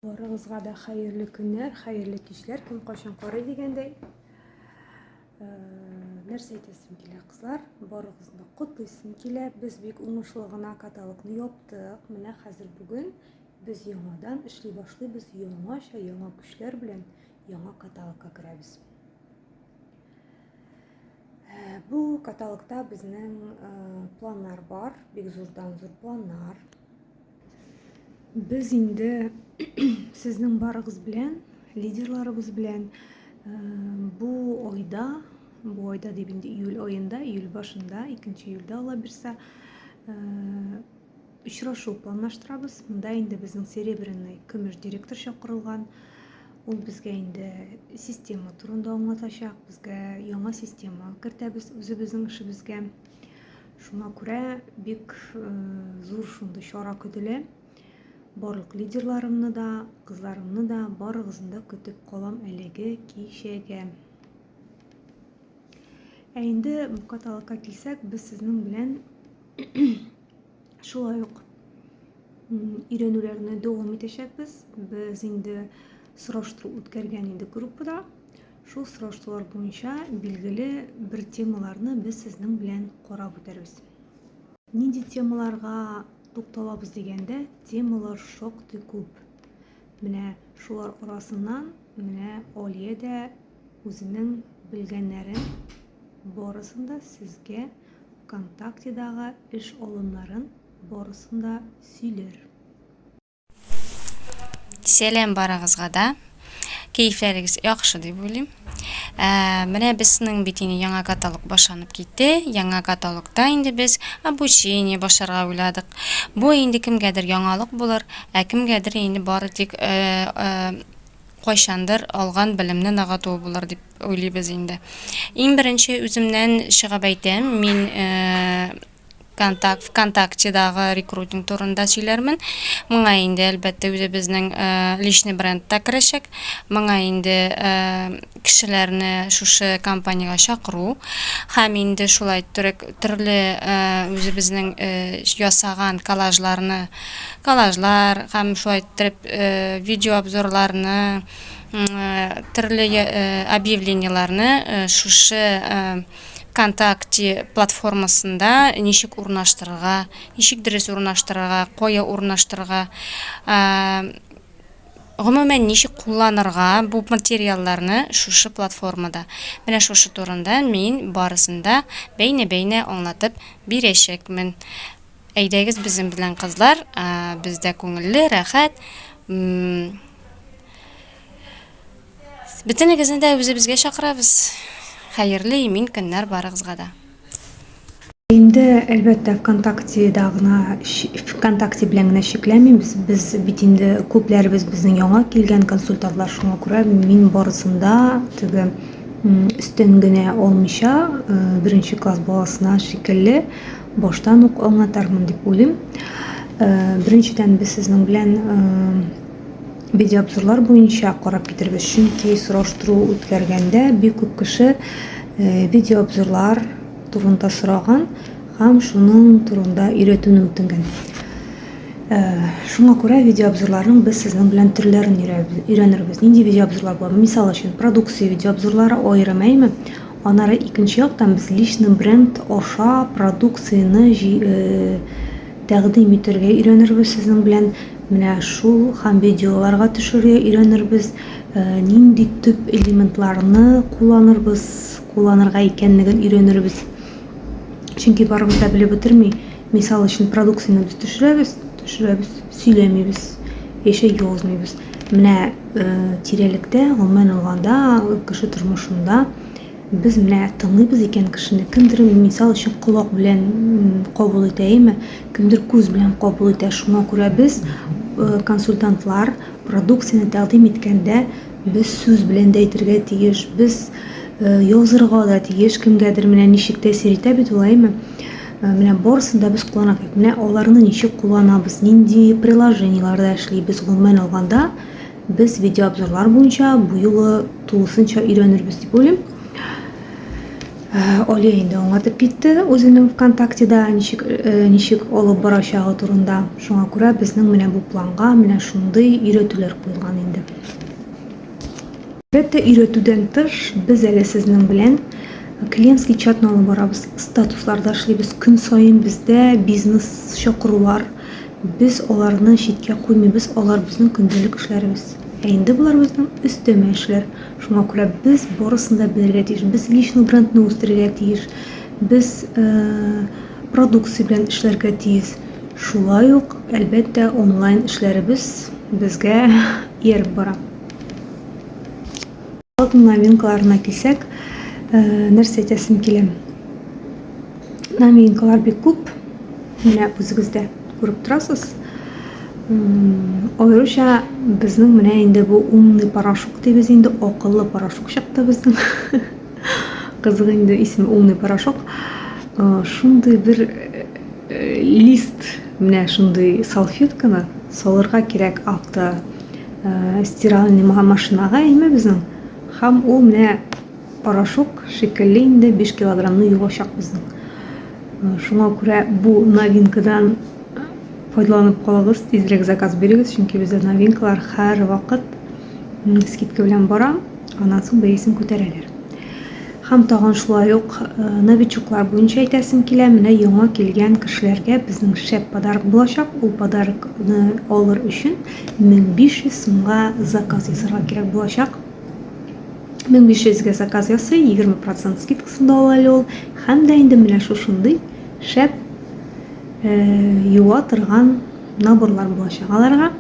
Барыгызга да хәерле көннәр, хәерле кичләр, кем кайчан карый дигәндәй. Э, нәрсә әйтәсем килә, кызлар, барыгызны котлыйсым килә. Без бик уңышлы гына каталогны яптык. Менә хәзер бүген без яңадан эшли башлыйбыз, яңача, яңа көчләр белән яңа каталогка керәбез. Э, бу каталогта безнең э, планнар бар, бик зурдан зур планнар. Без инде сезнең барыгыз белән, лидерларыбыз белән э, бу айда, бу айда дип инде июль аенда, июль башында, 2 июльдә ала бирсә, э, очрашу планлаштырабыз. Монда инде безнең серебряный көмеш директор чакырылган. Ул безгә инде система турында аңлатачак, безгә яңа система кертәбез үзебезнең эшебезгә. Шуңа күрә бик э, зур шундый чара көтелә. Барлык лидерларымны да, кызларымны да барыгызны да көтеп калам әлеге кичәгә. Ә инде каталогка килсәк, без сезнең белән шулай ук өйрәнүләрне дәвам итәчәкбез. Без инде сораштыру үткәргән инде группада. Шул сораштулар буенча билгеле бер темаларны без сезнең белән карап үтәрбез. Нинди темаларга тукталабыз дигәндә, темалар шактый күп. Менә шулар арасыннан менә Алия дә үзенең белгәннәрен барысын да сезгә ВКонтактедагы эш алымнарын барысын да сөйләр. Сәлам барыгызга да. Кәефләрегез яхшы дип уйлыйм. Ә, менә безнең бит инде яңа каталог башланып китте. Яңа каталогта инде без обучение башларга уйладык. Бу инде кемгәдер яңалык булыр, ә кемгәдер инде бары тик э, э, кайчандыр алган белемне нагату булыр дип уйлыйбыз инде. Иң беренче үземнән чыгып әйтәм, мин э, контакт вконтактедагы рекрутинг турында сөйләрмен моңа инде әлбәттә үзебезнең э, личный бренд та керәчәк моңа инде э, кешеләрне шушы компаниягә чакыру һәм инде шулай төрле э, үзебезнең ясаган коллажларны коллажлар һәм шулай итеп видеообзорларны төрле объявлениеләрне шушы Вконтакте платформасында ничек урнаштырырга, ничек дөрес урнаштырырга, кая урнаштырырга, гомумән ничек кулланырга бу материалларны шушы платформада. Менә шушы турында мин барысын да бәйнә-бәйнә аңлатып бирәчәкмен. Әйдәгез безнең белән кызлар, бездә күңелле, рәхәт. Бөтенегезне дә үзебезгә чакырабыз. Хәерле имин көннәр барыгызга да. Инде, әлбәттә, ВКонтактеда гына, ВКонтакте белән генә чикләнмибез. Без бит инде күпләребез безнең яңа килгән консультантлар, шуңа күрә мин барысында теге өстен генә алмыйча, э, беренче класс баласына шикелле баштан ук аңлатармын дип уйлыйм. Э, беренчедән без сезнең белән э, Видеообзорлар буенча карап китерегез, чөнки сораштыру үткәргәндә бик күп кеше э, видеообзорлар турында сораган һәм шуның турында өйрәтүне үтенгән. Э, шуңа күрә видеообзорларның без сезнең белән төрләрен өйрәнербез. Нинди видеообзорлар бар? Мисал өчен, продукция видеообзорлары аерым, әйме? Анары икенче яктан без личный бренд аша продукцияне э, тәкъдим итәргә өйрәнербез сезнең белән. Менә шул һәм видеоларга төшерергә өйрәнербез. Э, нинди төп элементларны кулланырбыз, кулланырга икәнлеген өйрәнербез. Чөнки барыбыз да белеп бетерми. Мисал өчен продукцияне без төшерәбез, төшерәбез, сөйләмибез, яшәй язмыйбыз. Менә э, тирәлектә, гомумән алганда, кеше тормышында Без менә тыңлыйбыз икән кешене, кемдер мисал өчен колак белән кабул итә, әйеме? Кемдер күз белән кабул итә. Шуңа күрә без, консультантлар, продукцияне тәкъдим иткәндә, без сүз белән дә әйтергә тиеш, без язырга да тиеш кемгәдер, менә ничек тәэсир итә бит ул, әйеме? Менә барысын да без кулланабыз бит, менә аларны ничек кулланабыз, нинди приложениеләрдә эшлибез, гомумән алганда, Без видеообзорлар буенча бу юлы тулысынча өйрәнербез дип уйлыйм. Алия инде аңлатып китте үзенең ВКонтактеда ничек ничек алып барачагы турында. Шуңа күрә безнең менә бу планга менә шундый өйрәтүләр куелган инде. Әлбәттә, өйрәтүдән тыш, без әле сезнең белән клиентский чатны алып барабыз, статусларда эшлибез. Көн саен бездә бизнес чакырулар Без аларны читкә куймыйбыз, алар безнең көндәлек эшләребез. Ә инде болар безнең өстәмә эшләр. Шуңа күрә без барысын да белергә тиеш. Без личный брендны үстерергә тиеш. Без продукция белән эшләргә тиеш. Шулай ук, әлбәттә, онлайн эшләребез безгә ияреп бара. Алтын новинкаларына килсәк, э, нәрсә әйтәсем килә? Новинкалар бик күп. Менә үзегез дә күреп торасыз. Аеруча безнең менә инде бу умный порошок дибез инде, акыллы порошок чыкты безнең. Кызык инде исеме умный порошок. Э, шундый бер э, лист менә шундый салфетканы салырга кирәк авто э, стиральный машинага имебезнең һәм ул менә порошок шикелле инде 5 килограммны юачак безнең э, шуңа күрә бу новинкадан файдаланып калыгыз тизрәк заказ бирегез чөнки бездә новинкалар һәр вакыт скидка белән бара Аннан соң бәясен күтәрәләр. Һәм тагын шулай ук э, новичоклар буенча әйтәсем килә, менә яңа килгән кешеләргә безнең шәп подарок булачак. Ул подарокны алыр өчен 1500 сумга заказ ясарга кирәк булачак. 1500 га заказ ясый, 20% скидкасында ала әле ул. Һәм дә инде менә шушындый шәп э, юа торган наборлар булачак аларга.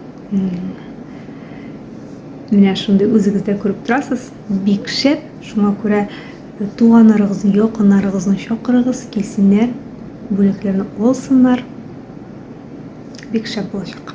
Менә шундый үзегез дә күреп торасыз, бик шәп. Шуңа күрә э, туганнарыгызны, якыннарыгызны чакырыгыз, килсеннәр, бүләкләрне алсыннар. Бик шәп булачак.